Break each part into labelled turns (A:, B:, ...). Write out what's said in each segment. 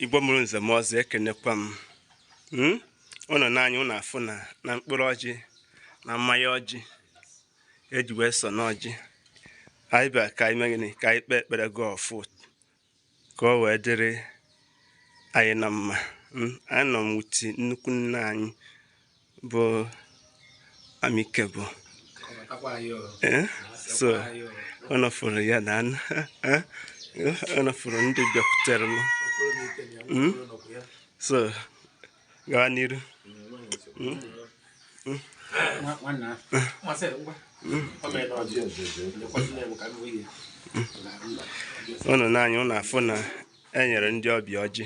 A: igbo mụrụ nze mụọ ọzọ ekenekwa m hmm? ụnụ n'anya ụnụ afụna na mkpụrụ ọjị na mmanya ọjị eji wee so n'ọjị anyị bịa ka anyị mee gịnị ka anyị kpee ekpere gọọ ọfọ ka o wee dịrị anyị na mma hmm? anọ m with nnukwu nna anyị bụ amikebụ eh? so ụnụ fụrụ ya na eh? ụnụ fụrụ ndị bịakwutere m hmm? so gawa n'iru hmm? Hmm? ụnụ n'anya ụnụ afụna enyere ndị ọbịa ọjị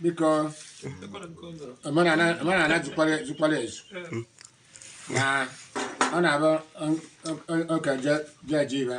B: because omenala jikwara ezu na ọ na-abụ oke jeje ibe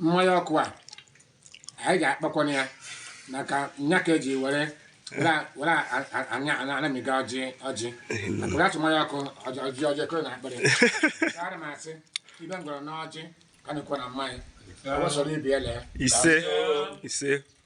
B: mmanya ọkụ a anyị ga-akpakwana ya maka nya ka eji were anamiga ọjị maka atụ mmanya ọkụ ọjị ekoro n'akpịrị ara m asị ibe m gwara n'ọjị ka nụkwa na mmanya ọ sọrọ ibi ele ise
A: ise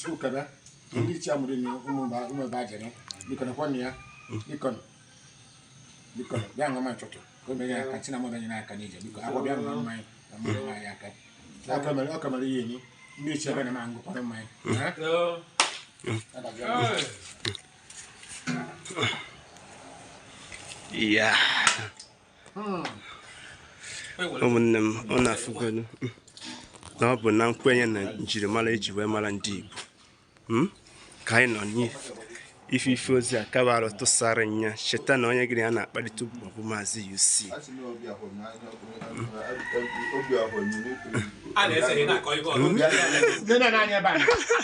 B: Chukwukebe ndị ichie amụrụ na ụmụ mba ụmụ ebe ajere biko na kwọnụ ya biko nụ. biko nụ, bịa ṅụọ mmanya ụtụtụ ka o mere ya aka chinamọ bịa nyere aka n'ije biko akwa bịa ṅụọ mmanya na mmanya nwa ya aka ọ ka mere ọ ka mere ihe enyi ndị ichie ebe na ma ngụkọrọ mmanya ha?
A: Yeah. ụmụnne m ụnụ afụgodu na ọ bụ na nkwenye na njirimara eji wee mara ndị Igbo hmm? ka anyị nọ n'ife ife ozi a kabarụ tụsara nya cheta na onye gị na ya na-akparịta ụbụbọ bụ maazị UC hmm?